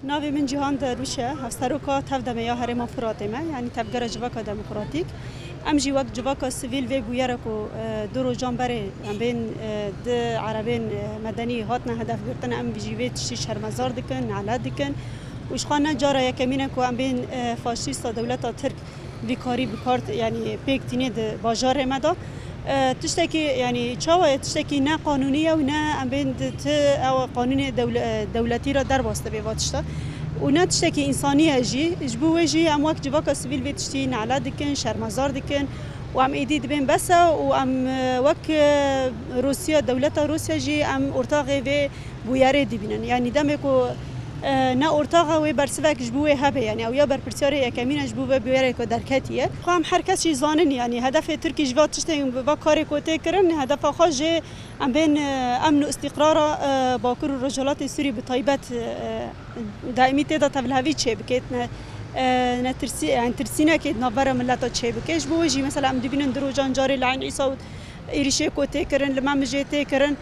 Navê min Cîhan Derwîş e, hevseroka tev demê ya Herêma Firatê me, yanî Tevgera Civaka Demokratîk. Em jî wek civaka sivîl vê bûyere ku du rojan berê em bên du erebên medenî hatine hedefgirtin, em jî vê tiştî şermezar dikin, nelet dikin û jixwe ne cara yekemîn e ku em bên faşîsta dewleta Tirk Vî karî bi kar yanî pêk tîne di bajarê me de. Tiştekî yanî çawa ye tiştekî ne qanûnî ye û ne em bên di ti ew qanûnê dewletî re derbas dibe va tişta. Û ne tiştekî însanî ye jî. Ji bo wê jî em wek civaka sivîl vê tiştî nale dikin, şermezar dikin û em êdî dibên bes e û em wek Rûsya dewleta Rûsya jî em ortaxê vê bûyerê dibînin. Yanî demê ku ne ortaxa wê bersivek ji bo wê hebe yanî ew ya berpirsyarê yekemîn e ji bo vê bûyerê ku derketiye. Xwe em her kes jî zanin yanî hedefê Tirkî ji va tiştên bi va karê ku tê kirin hedefa xwe jê em bên emn û îstîqrara Bakur û Rojhilatê Sûrî bi taybet daîmî tê de tevlhevî çê bike ne tirsî yanî tirsînekê di nav vera mileta çê bike. Ji bo wê jî mesela em dibînin di rojan carê li Eyn Îsa û êrîşê ku tê kirin li me mijê tê kirin.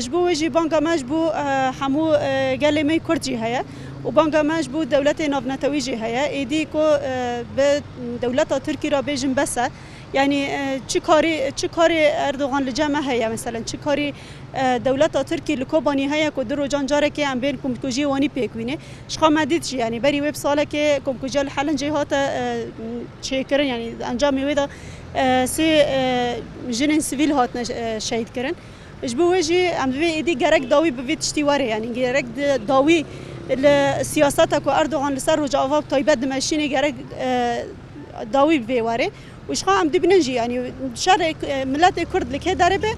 Ji bo wê jî banga me ji bo hemû gelê me Kurd jî heye û banga me ji bo dewletê navnetewî jî heye. Êdî ku bi dewleta Tirkî re bêjin bes e. Yanî çi karî çi karî Erdogan li cem me heye meselen çi karî dewleta Tirkî li Kobanî heye ku du rojan carekê em bên komkujiyê wanî pêk wînê. Ji xwe me dît jî yanî berî wê bi salekê komkujiya li Helincê hate çêkirin yanî encamê wê de. Sê jinên sivîl hatine şehîdkirin. Ji bo wê jî em bi vê êdî gerek dawî bi vê tiştî were yanî gerek dawî li siyaseta ku Erdogan li ser Rojava bi taybet dimeşînê gerek dawî bi vê were û ji xwe em dibînin jî yanî şerê miletê Kurd li kê derê be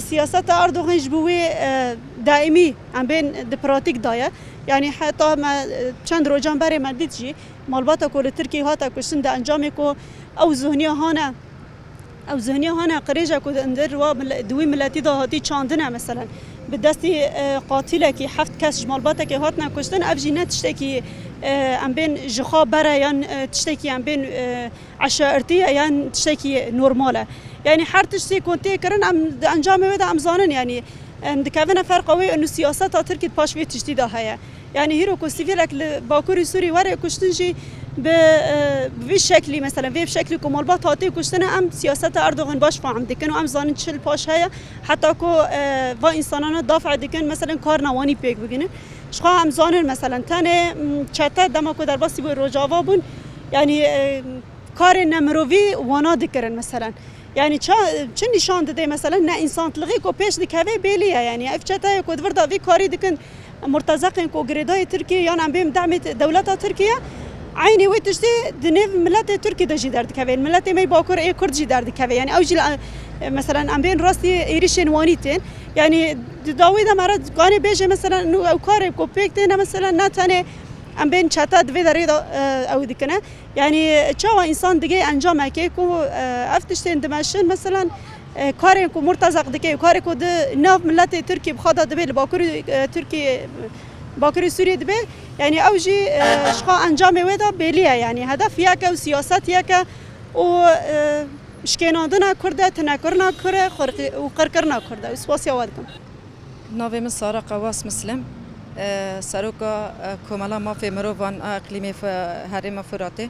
siyaseta Erdogan ji bo wê daîmî em bên di pratîk de ye yanî heta me çend rojan berê me dît jî Malbata ku li Tirkiyeyê hate kuştin di encamê ku ew zihniya hane ew zihniya hane qirêje ku di ndir wa di wî miletî de hatî çandin e meselen bi destî qatîlekî heft kes ji malbatekê hatine kuştin ev jî ne tiştekî em bên ji xwe ber e yan tiştekî em bên eşairtî ye yan tiştekî normal e yanî her tiştî ku tê kirin em di encamê wê de em zanin yanî em dikevine ferqa wê û siyaseta Tirkî di paş vê tiştî de heye. Yanî hîro ku sivîlek li Bakurê Sûrî were kuştin jî bi vî şeklî mesela vê şeklî ku malbat hatê kuştine em siyaseta Erdogan baş fahm dikin û em zanin çil paş heye heta ku va însanana dafê dikin mesela karina wanî pêk biginin. Jixwe em zanin mesela tenê çete dema ku derbasî bo Rojava bûn yanî karê nemirovî wana dikirin mesela. Yanî ça çi nîşan dide mesela ne însantilixê ku pêş dikeve bêlî ye yanî ev çeteyê ku di vir de vî karî dikin Em murtezek in ku girêdayê Tirkiyê yan em bên demê dewleta Tirkiyê. Eynî wê tiştî di nêv miletê Tirkî de jî derdikeve. Miletê me yê Bakur ê Kurd jî derdikeve. Yanî ew jî li meselen em bên rastî êrîşên Wanî tên. Yanî di dawî de me re dikanê bêje meselen nû ew karê ku pêk têne meselen ne tenê em bên çete di vê derê de ew dikine. Yanî çawa însan digê encamekê ku ev tiştên dimeşin meselen Karên ku Murtezaq dike û karê ku di nav miletê Tirkî bi xwe de dibe li bakurê Tirkiyê bakurê Sûriyê dibe yanî ew jî jixwe encamê wê de bêlî ye yanî hedef yek e û siyaset yek e û şikênandina Kurd e, tinekirina Kurd e û qirkirina Kurd e û spasiya we dikim. Navê min Sara Qewwas Mislem e, Seroka Komela Mafê Mirovan a Îqlîmê Herêma Furatê.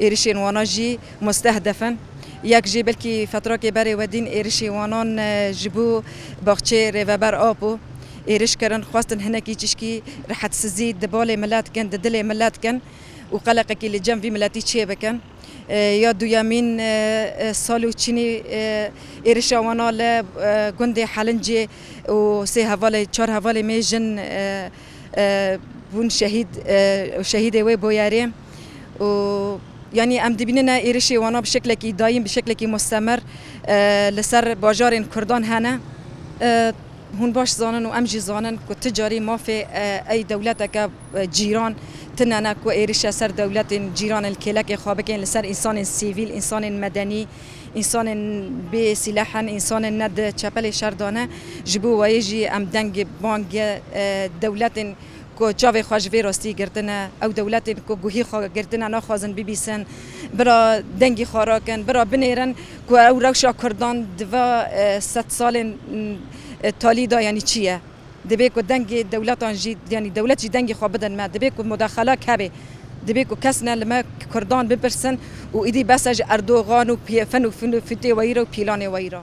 Êrişên wana jî mustehdef in. Yek jî belkî fetrakê berê we dîn êrişê wanan ji bo baxçeyê Rêveber Apo êriş kirin, xwestin hinekî çişkî rehetsizî di balê milet kin, di dilê milet kin û qeleqekî li cem vî miletî çê bikin. Ya duyemîn sal û çînî êrişa wana li gundê Helincê û sê hevalê, çar hevalê mêjin bûn şehîd û şehîdê wê boyerê. û yanî em dibînin e êrişê wana bi şeklekî dayîn bi şeklekî mustemer li ser bajarên Kurdan hene. Hûn baş zanin û em jî zanin ku ti carî mafê ey dewleteke cîran tune ne ku êrişe ser dewletên cîran li kêlekê xwe bikin li ser însanên sîvîl, însanên medenî, însanên bê sîleh in, însanên ne di çepelê şer de ne. Ji bo wê jî em deng bang dewletên ku çavê xwe ji vê rastiyê girtine, ew dewletên ku guhî xwe girtine naxwazin bibîsin, bira dengî xwe rakin, bira binêrin ku ew rewşa kurdan di va sed salên talî de yanî çi ye. Divê ku dengê dewletan jî yanî dewlet jî dengê xwe bidin me. Divê ku mudexela keve. Divê ku kes ne li me kurdan bipirsin û êdî bes e ji Erdogan û pfn û fûtê we yî re û pîlanê we yî re.